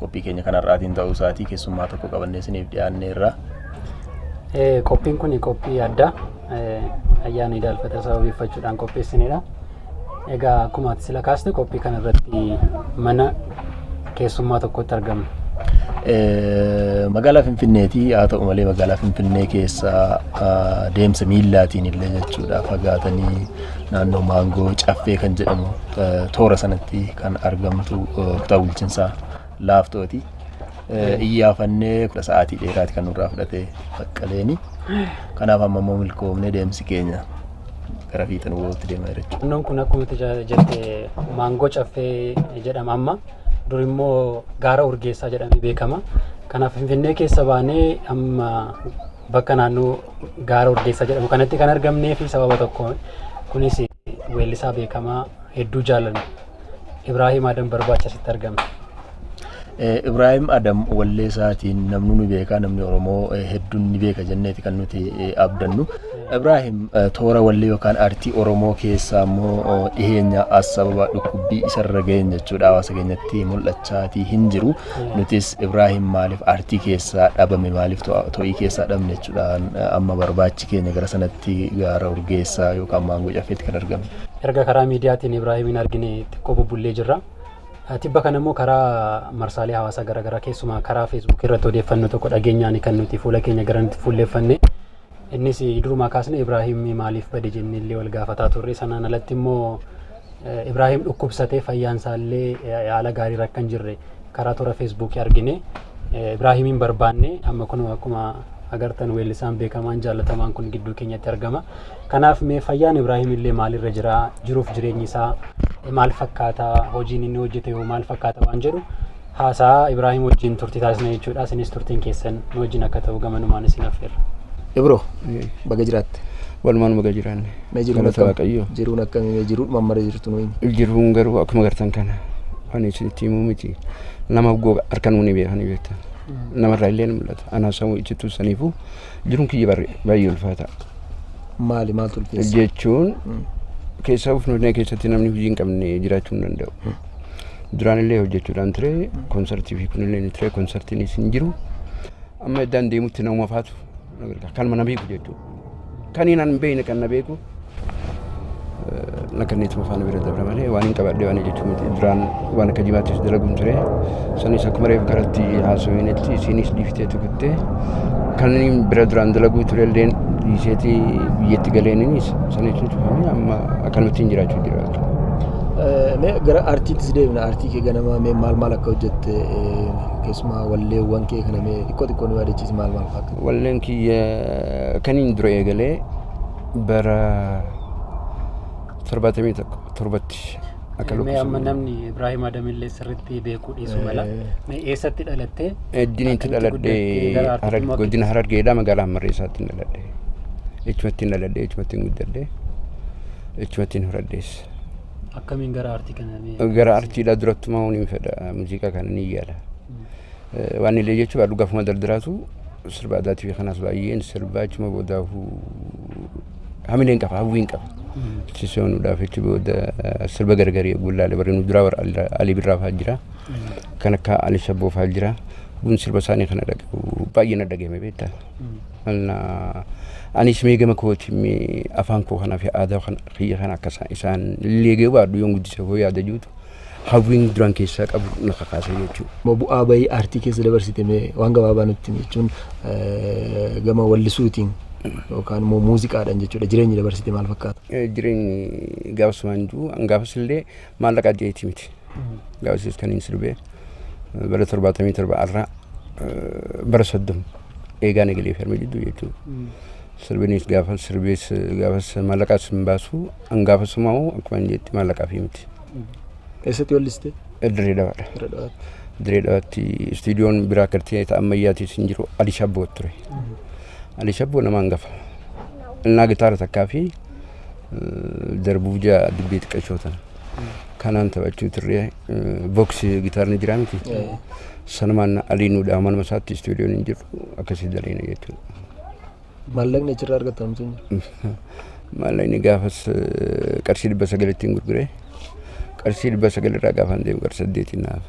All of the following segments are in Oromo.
qophii keenya kan har'aatiin ta'uu isaatii keessummaa tokko qabannee isiniif dhiyaannee irraa. Qophiin kun qophii addaa ayyaana idaalfata sababeeffachuudhaan qopheessinedha. Egaa akkuma ati sila kaaste qophii kana irratti mana keessummaa tokkotti argamna. Magaalaa Finfinneeti haa ta'u malee magaalaa Finfinnee keessa deemsa miillaatiin illee jechuudha fagaatanii naannoo maangoo caffee kan jedhamu toora sanatti kan argamtu kutaa bulchinsaa laaftooti. Iyyaafannee kudha sa'aatii dheeraati kan nurraa fudhate baqqaleeni. Kanaaf amma immoo milkoomnee deemsi keenya gara fiixan wootti deema jechuudha. Naannoon kun akkuma jette maangoo caffee jedhama amma. Dur immoo gaara urgeessaa jedhamee beekama. Kanaaf Finfinnee keessa baanee amma bakka naannoo gaara Urdeessaa jedhamu kanatti kan argamnee fi sababa tokkoon kunis weellisaa beekamaa hedduu jaalannu Ibraahiim Adam Barbaacha asitti argamne. Ibraahiim Adam wallee isaatiin namni ni beeka namni Oromoo hedduun ni beeka jenneeti kan nuti abdannu. Ibraahiim toora wallee yookaan aartii Oromoo keessaa immoo dhiheenya as sababa dhukkubbii isarra ga'een jechuudha hawaasa keenyatti mul'achaatii hin jiru. Nutis Ibraahim maaliif aartii keessaa dhabame maaliif to'ii keessaa dhabne jechuudhaan amma barbaachi keenya gara sanatti gaara urgeessaa yookaan maangoo caffeetti kan argamu. Erga karaa miidiyaatiin Ibraahimiin argine xiqqoo bubbullee jirra. Tibba kana immoo karaa marsaalee hawaasaa garaagaraa keessumaa karaa feesbuukii irratti odeeffannoo tokko dhageenyaan kan nuti fuula keenya gara nuti fuulleeffanne Innis durumaa kaasne Ibraahim maaliif bade jennee illee wal gaafataa turre. Sanaan alatti immoo Ibraahim dhukkubsatee fayyaan isaa illee haala gaariirra akka hin jirre karaa toora feesbuukii argine. Ibraahimiin barbaanne amma kun akkuma agartan weellisaan beekamaan jaallatamaan kun gidduu keenyatti argama. Kanaaf mee fayyaan Ibraahim illee maalirra jira? Jiruuf jireenyi isaa maal fakkaata? Hojiin inni hojjete hoo maal fakkaata waan jedhu haasaa Ibraahim wajjin turtii taasisna jechuudha. Isinis turtiin keessan nu wajjin akka ta'u gamanumaan isin affeerra. Ibro baga jiraatte. Walumaan baga jiraanne. Mee jiruun Galata akkam- Waaqayyoo. Jiruun akkamii mee jiruu mammara jirtu nuyi. Jiruun garuu akkuma gartan kana waan isinitti himuu miti. Nama goga harka nuuni beekanii beektan. Namarraa illee ni mul'ata. Anaa sammuu iccituu saniifuu jiruun kiyya barri- baay'ee ulfaata. Maali maaltu ulfeessa? Jechuun keessaa of nuunee keessatti namni hojii hin qabne jiraachuu hin danda'u. duraanillee hojjechuudhaan ture konsartii fi kunillee ni ture konsartiinis hin jiru amma iddaan deemutti nama faatu kanuma na beeku jechuudha kan hin hin beekne kan na beeku na kanneetuma faana bira dabra malee waan hin qabadhe waan jechuu miti duraan waan akka jimaattis dalaguun ture sanis akkuma reef garatti haasaweenetti isiinis dhiiftee tukuttee kan inni bira duraan dalaguu ture illeen dhiiseeti biyyatti galeeninis sana jechuun cufamee amma akkanumattiin jiraachuu jira. Mee gara aartiittis deebina. Aartii kee ganamaa mee maal maal akka hojjette eh, keessumaa walleewwan kee kana mee xiqqoo xiqqoo nu yaadachiisi maal maal fa'a? Walleen kiyya kan inni dura eegalee bara torbaatamii tokko torbatti akka Mee amma lakkoofsa namni Ibraahim Adamillee sirriitti beekuu dhiisu mala. Eh. Mee eessatti dhalattee? Eddinitti Akkamitti dhaladhe guddattee gara aartiitti Hararge- makamte? godina Harargeedhaa magaalaa Hammarreessaatti dhaladhe. Echumatti dhaladhe echumatti guddadhe. Jechumattiin horadhees. Akkamiin gara aartii kana mee? Gara aartiidhaa durattumaa waan hin fedha muuziqaa kana ni yaala. Eh, Waan illee jechuun aduu gafuma daldalaatu sirba aadaatii fi kanaas baay'een sirbaa achuma boodaahu hamileen qaba hawwiin qaba. Achi seenuudhaaf achi booda eh, sirba gargarii gullaalee barreen duraa warra Alii- Alii Birraa fa'aa jira. Kan akka Alii Shabboo fa'aa jira. Kun sirba isaanii kana dhagahu baay'ee na dhagahame beektaa. Anis mee gama kootiin mee afaan koo kanaa fi aadaa kan kiyya kana akka isaan- isaan illee eegee baadhu yoon guddise koo yaada jirutu hawwiin duraan keessaa qabu na kakaase jechuudha. Mo bu'aa bahii aartii keessa dabarsite mee waan gabaabaa nutti himi jechuun eh, gama wallisuutiin yookaan immoo muuziqaadhaan jechuudha jireenyi dabarsite maal fakkaata? Eh, Jireenyi gaafasumaan jiru gaafas illee Maallaqa ajjeetii miti. Gaafasiis kan inni sirbee bara torbaatamii torba arraa bara soddom eegaa nagalee fi harma jidduu jechuudha. Sirbinis gaafa sirbees gaafas maallaqaas hin baasu an gaafa sumaa'u akkuma hin jetti maallaqaa fi miti. Eessatti walliste? Dirree dhawaadha. Irra dhawaatti. Dirree dhawaatti istuudiyoon biraa kartee ta'a ammayyaatis hin jiru Ali Shabboo ture. Ali Shabboo nama hangafa. Innaa gitaara takkaa fi darbuuf jaa dibbee xiqqashoo tana. Kanaan taphachuu turre boksi gitaarni jiraa miti. Sanumaan alii nuu dhaama nama isaatti istuudiyoon hin jiru akkasii daleena jechuudha. Maallaqni achirraa argattan miti jiru. Maallaqni gaafas eh, qarshii dhibba sagalittiin gurgure. Qarshii dhibba sagalirraa gaafaan deemu qarshii saddeetiin naaf.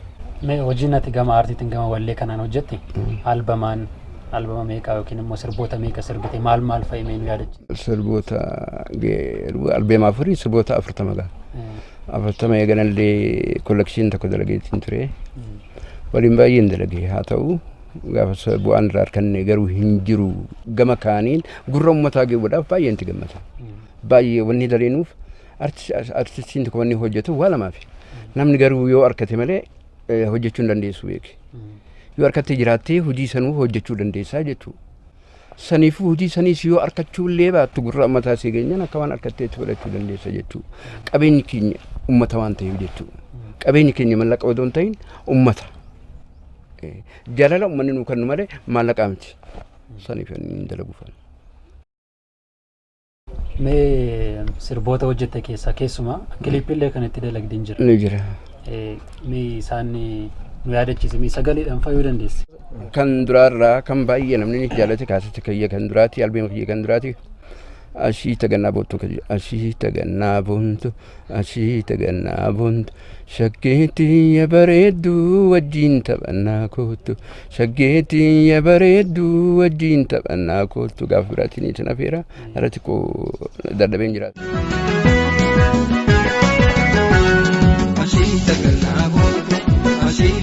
Mee hojiin ati gama aartiitiin gama wallee kanaan hojjette albamaan Albama meeqa yookiin immoo sirboota meeqa sirbite maal maal fa'i mee nu yaadachi? Sirboota albeema afurii sirboota afurtama gaha. Afurtama eeganallee kollekshiin tokko dalageetiin ture. Waliin baay'een dalagee haa ta'u gaafa bu'aan irraa arganne garuu hin jiru. Gama kaaniin gurra uummataa geewwadhaaf baay'ee itti gammada. Baay'ee wanni daleenuuf artistiin tokko wanni hojjetu waa lamaaf. Namni garuu yoo argate malee hojjechuu hin dandeessu beeki. Yoo harkatti jiraattee hojii sanuu hojjechuu dandeessaa jechuudha. Saniifuu hojii saniis yoo arkachuu illee baattu gurra ammataa sii geenyaan akka waan harkatti itti fudhachuu dandeessa jechuudha. Qabeenyi keenya ummata waan ta'eef jechuudha. Qabeenyi keenya mallaqa odoo hin ta'in ummata. Eh, Jaalala ummanni nuu kennu malee maallaqaa miti. Saniif hin dalaguufan. Mee sirboota hojjette keessaa keessumaa kiliippiillee kan itti dalagdin jira. ni jira. Eh, Mee isaan eh, nu yaadachiisi. Mee sagaleedhaan fayyuu dandeessi. Kan duraarraa kan baay'ee namni ni jaalate kaasatti kiyya kan duraati albeema kiyya kan duraati. Ashii tagannaa boontu kiyya ashii tagannaa boontu asii tagannaa boontu shaggeetii ya bareedduu wajjiin taphannaa koottu shaggeetii ya bareedduu wajjiin taphannaa koottu gaaf biraatiin isin afeera irratti koo dadhabeen jiraatu. Asii tagannaa boontu asii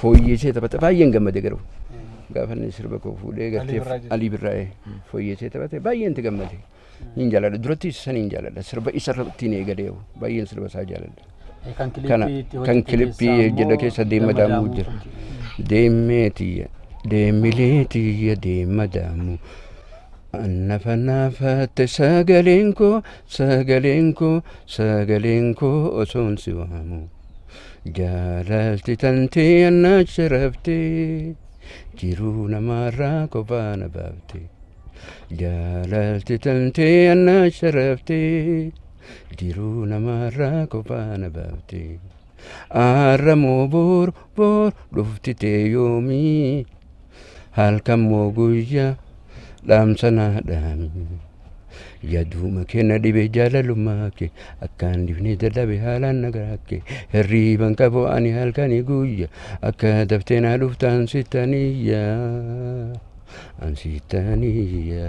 fooyyeessee taphate baay'een gammade garuu gaafa inni sirba koo fuudhee gartee alii birraa'ee fooyyeessee taphate baay'een itti gammade hin jaaladha duratti isa san hin jaaladha sirba isa ittiin eegalee baay'een sirba isaa jaaladha. Kan kana kan kilippii hojjedha keessa deema daamuu jira deemee tiyya deemilee tiyya deema daamuu. Annafa naafatte sagaleen koo sagaleen koo sagaleen koo osoon si waamu. Jaalalti tantee annaacha rabtee jiruu namaarraa kophaa na baafte. Jaalalti tantee annaacha rabtee jiruu namaarraa kophaa na baafte. Aarramoo boor boor dhufti tee yoomii. halkan moo guyyaa dhaamsa naa dhaami. Yaduuma kee na dhibe jaalalummaa kee akkaan difnee dadhabe haalaan nagaraa kee hirriiban qabu ani halkanii guyya akka daftee naa dhuftaan sittaniyya an sittaniyya.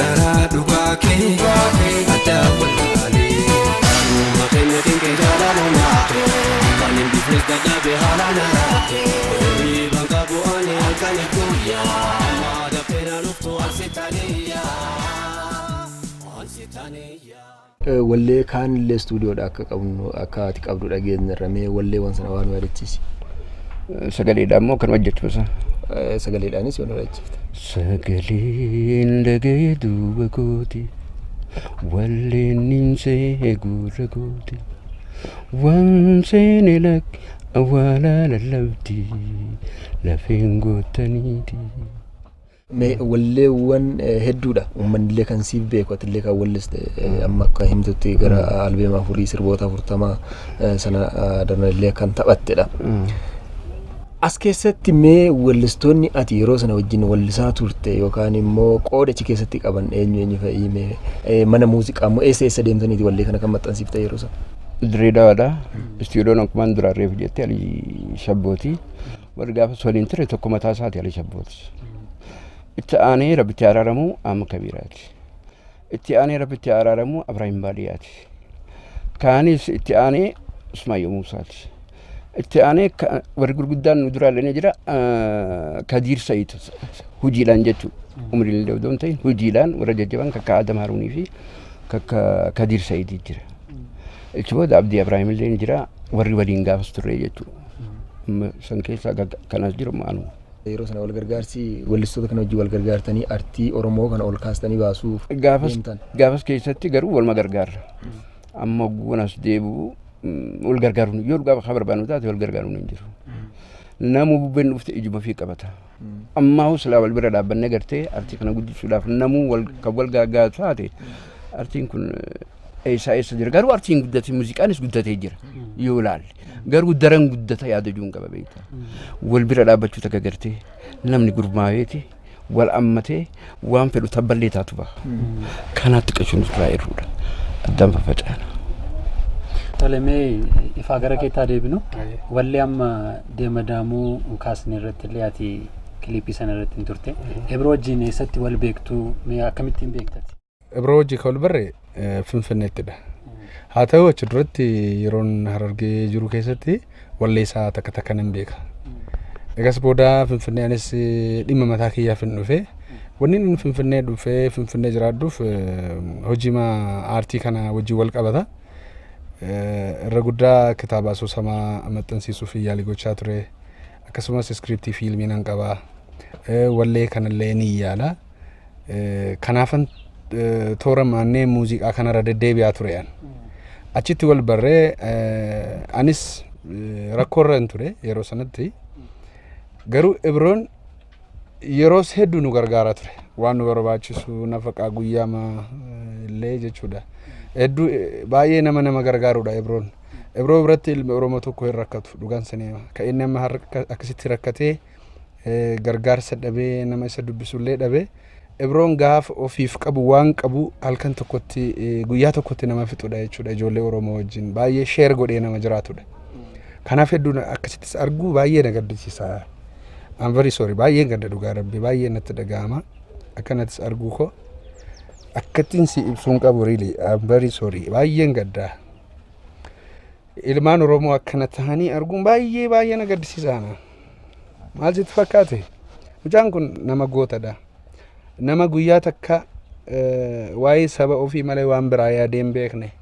Dharaa dhugaa kee addaan wallaalee Kanuuma keenya dinqee jaalaalumaa Kan hin bifnes dadhabe haala naraa Riiban qabu ani halkani guyyaa Amma dafee na dhuftu ansitaniyaa Ansitaniyaa Wallee kaan illee studio dha akka qabnu akka ati qabdu dhageenyerra mee wallee wan sana waa nu yaadachiisi. Sagaleedhaan moo kan hojjechuun isaa? Sagaleedhaanis yoo nu yaadachiifte. Sagaleen dhaga'e duuba kooti walleen nin seehe gurra kooti waan seene lakki awwaalaa lallabdi lafeen goottaniiti. Mee walleewwan hedduudha ummannillee kan siif beeku atillee kan walliste amma akka himtutti gara albeema afurii sirboota afurtama sana darnallee kan taphattedha. As keessatti mee wallistoonni ati yeroo sana wajjin wallisaa turte yookaan immoo qooda achi keessatti qaban eenyu eenyu fa'ii mee mana muuziqaa immoo eessa eessa deemtaniiti wallee kana kan maxxansiifte yeroo sana? Dirree Dawaadha. Istiidoon akkuma duraan reefu jette ali shabbooti. Warri gaafas waliin ture tokko mataa isaati Ali Shabbootis. Itti aanee rabbitti araaramu Amma Kabiiraati. Itti aanee rabbitti araaramu Abiraahim Baadiyaati. Kaanis itti aanee Usmaayyoo Muusaati. Itti aanee ka- warri gurguddaan nu duraa illee jira ah, Kadiir Sa'iid hojiidhaan jechuudha. Umriin illee odoo hin ta'in hojiidhaan warra jajjaban kakka Adam Haruunii fi kakka Kadiir Sa'iid jira. Ichi booda Abdii Abiraahim illee ni jira warri waliin gaafas turre jechuudha. Amma san keessaa gag- kan as jiru amma anuma. Yeroo sana wal gargaarsi weellistoota kana wajjin wal gargaartanii artii Oromoo kana ol kaastanii baasuuf Gaafas, deemtan. gaafas keessatti garuu waluma gargaarra. Amma ogguun as deebi'u mm, wal gargaaruun yoo dhugaa haa barbaannu taate wal gargaaruun hin jiru. Namuu bubbeen dhufte ijuma fi qabata. Ammaahuu silaa wal bira dhaabbanne gartee artii kana guddisuudhaaf namuu wal, kan wal gaaggaatu taate artiin kun eessaa eessa jira. Garuu artiin guddatee muuziqaanis guddatee jira yoo ilaalle. Garuu daran guddata yaada juun qaba beektaa. Wal bira dhaabbachuu takka gartee namni gurmaaweeti wal ammatee waan fedhu tabballee taatu baha. Kanaatti qashuun irraa irruudha. Addaan faffaca'ana. Tole mee ifaa gara keetti haa deebinu. Wallee amma deema daamuu kaasne irratti illee ati kiliipii sana irratti hin turte. Ebiroo wajjin eessatti wal beektu mee akkamittiin beektati? Ibroo hojii kan barre Finfinneettidha. Haa ta'u achi duratti yeroon harargee jiru keessatti walleessaa takka takka nan beeka. Egas booda Finfinnee anis dhimma mataa kiyyaaf hin dhufe. Wanni inni Finfinnee dhufee Finfinnee jiraadhuuf hojii aartii kana wajjin wal qabata. Irra guddaa kitaaba asoosamaa maxxansiisuu fi yaalii gochaa ture. Akkasumas iskiriiptii fiilmii nan qaba. Wallee kanallee ni yaala. Eh, Kanaafan eh, toora maannee muuziqaa kanarra deddeebi'aa ture an. Achitti wal barree eh, anis eh, rakkoorra hin ture yeroo sanatti. Garuu Ibroon yeroos hedduu nu gargaaraa ture. Waan nu barbaachisu nafaqaa guyyaama eh, illee jechuudha. Hedduu eh, baay'ee nama nama gargaarudha Ibroon. Ibroo biratti ilmi Oromoo tokko hin rakkatu dhugaan saniima. Kan inni amma har'a akka- akkasitti rakkatee gargaarsa dhabee nama isa dubbisullee dhabe ibroon gaafa ofiif qabu waan qabu halkan tokkotti guyyaa tokkotti nama fixudha jechuudha ijoollee oromoo wajjin baay'ee sheer godhee nama jiraatudha kanaaf hedduun akkasittis arguu baay'ee na gaddisiisa I'm very sorry baay'ee gadda dhugaa rabbi baay'ee natti dhaga'ama akkanattis arguu koo akkattiin si ibsuun qabu really I'm very sorry baay'een gaddaa Ilmaan Oromoo akkana tahanii arguun baay'ee baay'ee na gaddisiisa ana. Maal sitti fakkaate? Mucaan kun nama gootadha. Nama guyyaa takka eh, waa'ee saba ofii malee waan biraa yaadee hin beekne.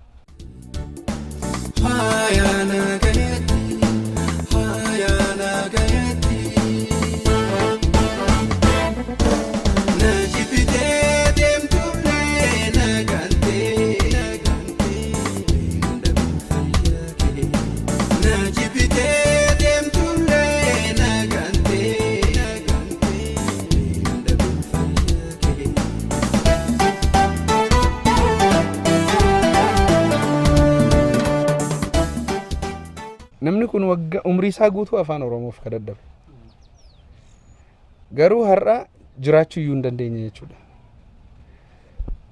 namni kun wagga umrii isaa guutuu afaan oromoof ka dadhabe garuu har'a jiraachuu iyyuu hin dandeenye jechuudha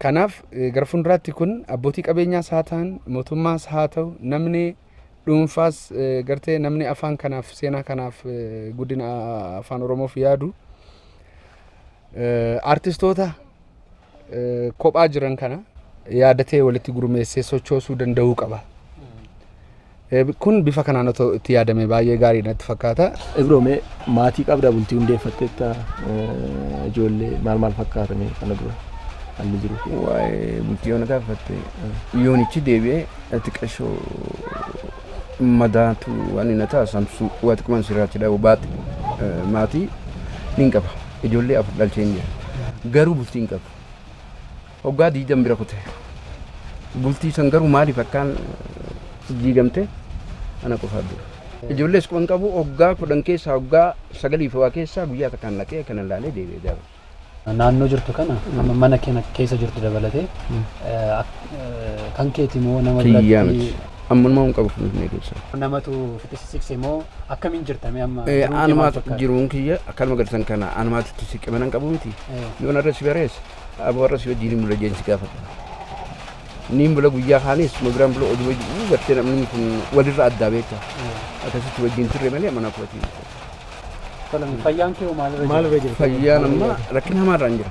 Kanaaf gara fuulduraatti kun abbootii qabeenyaas haa ta'an mootummaas haa ta'u namni dhuunfaas gartee namni afaan kanaaf seenaa kanaaf guddina afaan oromoof yaadu artistoota kophaa jiran kana yaadatee walitti gurmeessee sochoosuu danda'uu qaba. Kun bifa kanaan otoo itti yaadame baay'ee gaarii natti fakkaata. Ibroo mee maatii qabda bultii hundeeffatteetta ijoollee maal maal fakkaata mee kana dura haalli jiru? Waa'ee bultii yoona gaafatte yoonichi deebi'ee xiqqashoo madaatu waan inni ta'a samsuu waa xiqquman sirraatti dhabu baate maatii niin qaba ijoollee afur dhalcheen jira garuu bultii hin qabu. Waggaa 20 bira kute. Bultii san garuu maaliif akkaan diigamte ana qofaaf beeka. Ijoollees quban qabu waggaa kudhan keessaa waggaa sagalii fi waa keessaa guyyaa takkaan dhaqee kanan laalee deebi'ee daawwadhe. Naannoo jirtu kana amma mana kana keessa jirtu dabalatee kan keeti moo nama biratti? Kiyyaa miti. Ammanuma hin qabu finfinnee keessa. Namatu fixisisikse moo akkamiin jirtame amma? Anumaa jiruun kiyya akkanuma garsan kana anumaatu itti siqe mana hin qabu miti. Yoo narra si bareessa. Abo warra si wajjin hin bula jeen si gaafata. Ni hin bula guyyaa kaanis nu biraan bula oduu wajjin gartee namni kun walirra addaa beekta. Akkasitti wajjin turre malee mana kootii. Salam fayyaan kee maalirra Maal irra jira? jirta? Fayyaan amma rakkina hamaarra hin jira.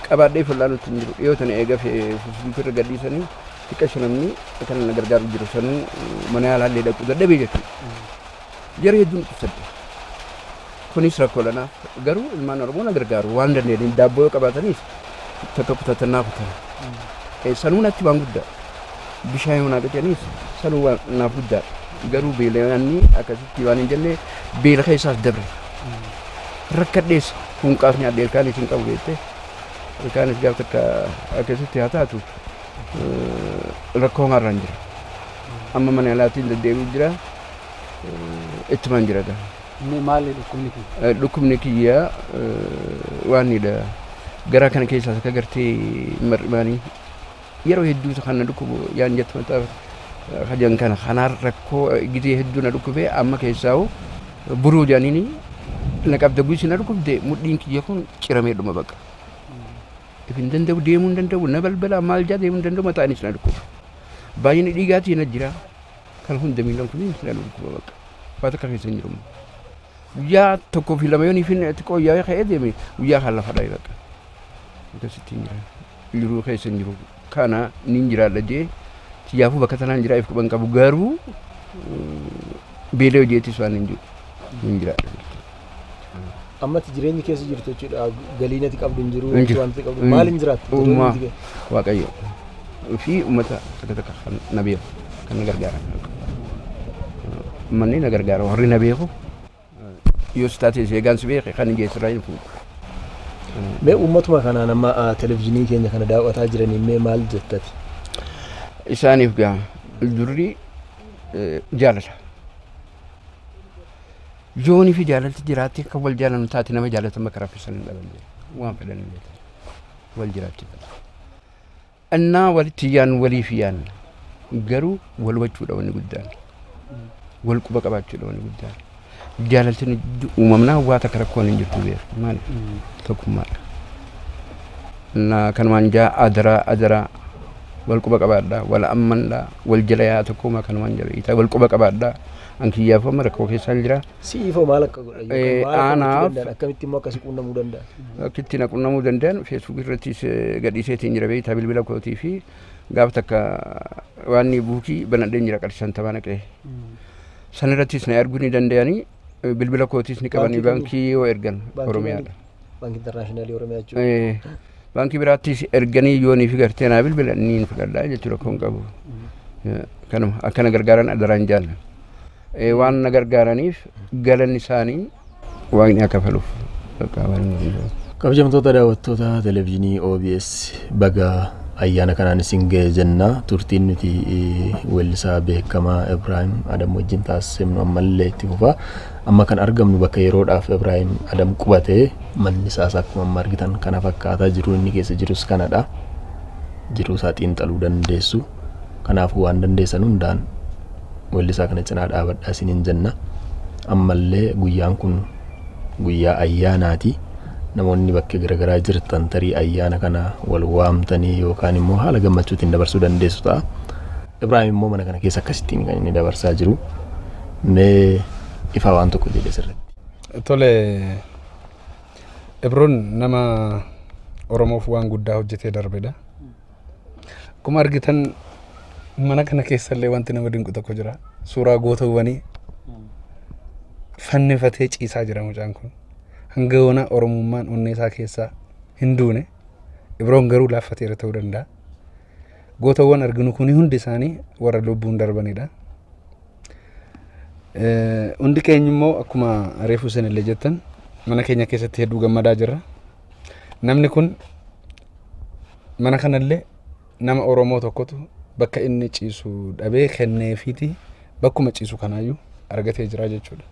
Qabaadhee fal'aa nutti hin jiru. Dhiyoo tana eega Facebook irra gadhiisanii xiqqa shanamni kan na gargaaru jiru sanuu mana yaalaallee dhaquu dadhabee jechuudha. Jara hedduun dhukkubsadde. Kunis rakkoodha naaf. Garuu ilmaan Oromoo na gargaaru waan danda'aniin daabboo yoo qabaataniif takka kutatan naa kutan. Eh, Sanuu natti waan guddaa. Bishaan yoo naa qicaniif sanuu waan naaf guddaa. Garuu beelayaanni akkasitti waan hin jenne beela keessaas dabre. Rakkadhees hunqaaf nyaadhe ilkaanis hin qabu beektee. Ilkaanis gaaf takka akkasitti haa taatu eh, rakkoo maarraan jira. Amma mana yaalaatiin deddeebi'u jira. Eh, Ittumaan jira gaa. Mee maali dhukkubni kee? Dhukkubni kiyya waanidha. Garaa kana keessaas akka gartee mar'imaanii yeroo hedduu isa kana dhukkubu yaan jettu mataa kajan kana kanaan rakkoo gizee hedduu na dhukkubee amma keessaa'u buruu jaaniini na qabda guusi na dhukkubde mudhiin kiyya kun ciramee dhuma baqa. If hin danda'u deemuu hin danda'u na balbalaa maal jaa deemuu hin danda'u mataanis na dhukkuba. Baay'inni dhiigaatii na jira. Kan hunda miidhan kun hin dhalu dhukkuba bakka. Waa takka keessa hin jiru. Guyyaa tokkoo fi lama yoon ifin xiqqoo yaa'ee ka'ee deeme guyyaa kan lafa dha'e bakka. Akkasitti hin jira. Jiruu keessa hin jiru. Kana niin jiraadha jee siyaafuu bakka tanaan jiraa if quban qabu garuu beela hojeetis waan hin jiru. Hin jiraadha. Ammatti jireenyi keessa jirtu jechuudha. Galiin ati qabdu hin jiru. Hin jiru. Wanti qabdu Hin maaliin jiru. jiraattu? Uumaa Jireenyi kee- waaqayyo fi uummata takka takka kan na beeku kan na gargaaran. Manni na gargaara warri na beeku yoo si taate eegaan si beeke kan hin geessirraa hin fuudhu. Mee uummatuma kanaan amma ah, televizyiinii keenya kana daawwataa jiraniin mee maal jettati? Isaaniif gaa durri eh, jaalala. Joonii fi jaalalti jiraatti kan wal jaalannu taate nama jaalatan bakka raffissan hin dhaban jedhe. Waan fedhan hin beekan. Wal jiraachifata. Annaa walitti yaannu waliif yaanna. Garuu wal hubachuudha wanni guddaan. Wal quba qabaachuudha wanni guddaan. Jaalalti nu jiddu uumamnaa waa takka rakkoon hin jirtu beeku. Maali? Tokkummaadha. Annaa kanumaan jaa adaraa adaraa wal quba qabaadhaa wal ammandhaa wal jala yaa tokkoomaa kanumaan jala iitaa wal quba qabaadhaa. An kiyyaaf amma rakkoo keessaan jira. Si'iif hoo maal akka godhan Eh, yookaan maal akka gochuu anaaf- danda'an akkamitti immoo akkasi quunnamuu danda'an? Akka ittiin qunnamuu danda'an feesbuukii irrattis eh, gadhiiseetiin jira beektaa bilbila kootii fi gaafa takka waan buukii banadheen jira qarshii shantamaa naqee. San irrattis na arguu ni danda'anii eh, bilbila kootiis ni qabanii Baankii baankii yoo ergan Baankii Oromiyaadha. Banki Intarnaashinaali Oromiyaa jechuudha. Eh, baankii biraattis erganii yoo niif gartee naa bilbilan niin fudhadhaa jechuudha kun qabu. Eh, Kanuma akkana gargaaran adaraan jaallan. Eh, Waan na gargaaraniif galanni isaanii waaqni akka faluuf bakka waan hin danda'u. Kabajamtoota daawwattoota televezyiinii OBS baga ayyaana kanaan isin ga'e jenna. Turtiin nuti eh, weellisaa beekamaa Ibraahim Adam wajjin taasisnu ammallee itti fufa. Amma kan argamnu bakka yeroodhaaf Ibraahim Adam qubate. Manni isaas akkuma amma argitan kana fakkaata. Jiruun inni keessa jirus kanadha. Jiruu isaa xiinxaluu dandeessu. Kanaafuu waan dandeessan hundaan weellisaa kana cinaa dhaabadhaa isiniin jenna. Ammallee guyyaan kun guyyaa ayyaanaati. Namoonni bakkee garaagaraa jirtan tarii ayyaana kana wal waamtanii yookaan immoo haala gammachuutiin dabarsuu dandeessu ta'a. Ibraahim immoo mana kana keessa akkasittiin kan inni dabarsaa jiru mee ifaa waan tokko jedhe sirriitti. Tole Ibroon nama Oromoof waan guddaa hojjetee darbedha. Akkuma argitan mana kana keessallee wanti nama dinqu tokko jira. Suuraa gootawwanii fannifatee ciisaa jira mucaan kun. Hanga yoona Oromummaan onnee isaa keessaa hin duune. Ibroon garuu laaffateera ta'uu danda'a. Gootawwan arginu kuni hundi isaanii warra lubbuun darbanidha. Eh, Hundi keenya immoo akkuma reefu isin illee jettan mana keenya keessatti hedduu gammadaa jirra. Namni kun mana kanallee nama Oromoo tokkotu bakka inni ciisu dhabee kenneefiiti bakkuma ciisu kanaayyuu argatee jira jechuudha.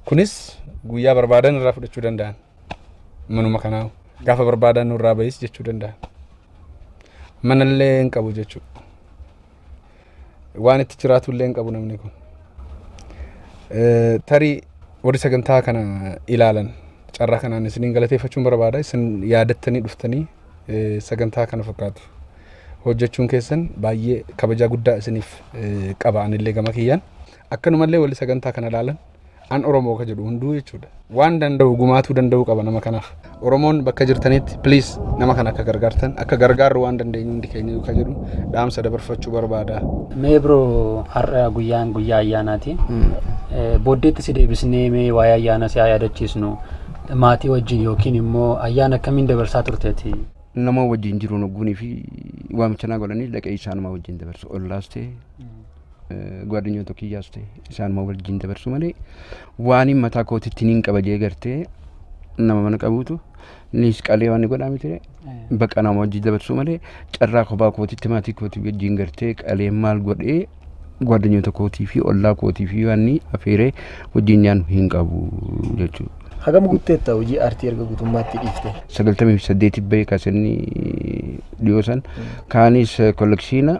Kunis guyyaa barbaadan irraa fudhachuu danda'an. manuma kanaa gaafa barbaadan nurraa bahis jechuu danda'a. Manallee hin qabu jechuudha. Waan itti jiraatullee hin qabu namni kun. Eh, Tarii warri sagantaa kana ilaalan carraa kanaan isiniin galateeffachuun barbaada. Isin yaadattanii dhuftanii eh, sagantaa kana fakkaatu hojjechuun keessan baay'ee kabajaa guddaa isiniif eh, qaba anillee gama kiyyaan. Akkanumallee warri sagantaa kana ilaalan an oromoo ka jedhu hunduu jechuudha waan danda'u gumaatuu danda'uu qaba nama kanaaf oromoon bakka jirtanitti please nama kana akka gargaartan akka gargaarru waan dandeenyu hundi keenya ka jedhu dhaamsa dabarfachuu barbaada Mee bro har'a guyyaan guyyaa ayyaanaati. Eh, Booddeetti si deebisnee mee waa'ee ayyaana si haa yaadachiisnu. Maatii wajjin yookiin immoo ayyaana akkamiin dabarsaa turteeti? nama wajjin jiruun ogguunii fi waamicha naa godhanii dhaqee isaanuma wajjin dabarsu ollaas ta'e gwaadinyoota kiyyaas ta'e isaanuma wajjin dabarsu malee waaniin mataa kootitti niin qaba jee gartee nama mana qabuutu niis qalee waan godhaa miti baqa nama wajjin dabarsu malee carraa kophaa kootitti maatii kootii wajjin gartee qalee maal godhee gwaadinyoota kootii fi ollaa kootii fi waanni afeeree wajjin nyaannu hin qabu jechuudha. Hagam guutteetta hojii aartii erga guutummaatti dhiifte. sagaltamii fi saddeetii bahee kaasanii dhiyoo san kaanis kollekshiina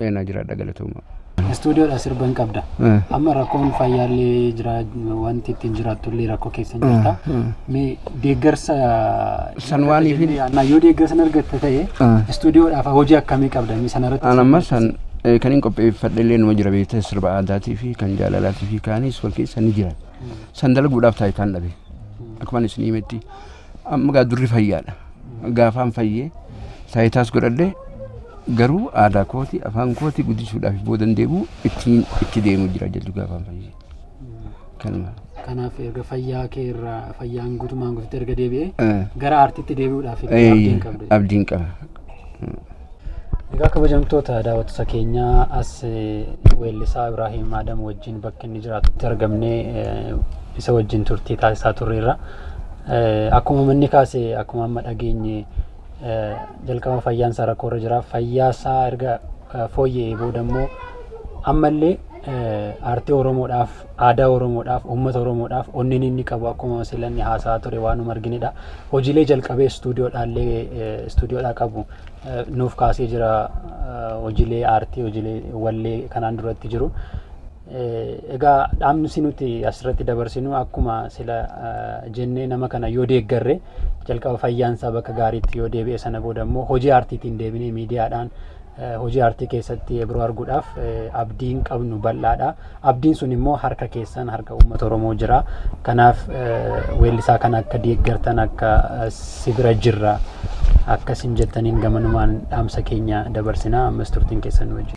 Eenaa jiraadha galatooma. Istuudiyoodha sirba hin qabda. Amma rakkoon fayyaallee jira wanti ittiin jiraattullee rakkoo keessa hin jirta. Mee deeggarsa San waan ifin- Annaa yoo deeggarsa hin argatte ta'e istuudiyoodhaaf hojii akkamii qabda mee sanarratti. An amma san eh, kan hin qopheeffadhe illee numa jira beekte sirba aadaatii fi kan jaalalaatii fi kaanis wal keessa ni jira. San dalaguudhaaf taayitaan dhabe. Akkuman isin himetti Amma gaa durri fayyaadha. Gaafaan fayyee taayitaas godhadhe garuu aadaa kooti afaan kooti guddisuudhaaf boodan deemu ittiin itti deemu jira jedhu gaafaan fayyee. Kanuma. Kanaaf erga fayyaa kee irraa fayyaan guutumaan guututti erga deebi'ee Eh. gara aartiitti deebi'uudhaaf Eh, abdiin qabda. Abdiin qaba. Egaa kabajamtoota daawwattoota keenyaa as weellisaa Ibraahiim Aadam wajjin bakki inni jiraatutti argamnee isa wajjin turtii taasisaa turreerra. Akkuma manni kaase akkuma amma dhageenye jalqaba fayyaan isaa rakkoorra jira. Fayyaa isaa erga fooyya'ee booda immoo ammallee aartii Oromoodhaaf Aadaa Oromoodhaaf, uummata Oromoodhaaf onneen inni qabu akkuma sila inni haasa'aa ture waanuma arginedha. Hojiilee jalqabee istuudiyoodhaallee istuudiyoodhaa qabu nuuf kaasee jira hojiilee aartii, hojiilee wallee kanaan duratti jiru. Egaa dhaamsi nuti asirratti dabarsinu akkuma sila jennee nama kana yoo deeggarre jalqaba fayyaansaa bakka gaariitti yoo deebi'e sana booda immoo hojii aartiitiin deebinee miidiyaadhaan hojii aartii keessatti yebroo arguudhaaf abdiin qabnu bal'aadha. Abdiin sun immoo harka keessan harka uummata Oromoo jira. Kanaaf weellisaa kana akka deeggartan akka si bira jirra akka isin jettaniin gamanumaan dhaamsa keenya dabarsina ammas turtiin keessan wajjin.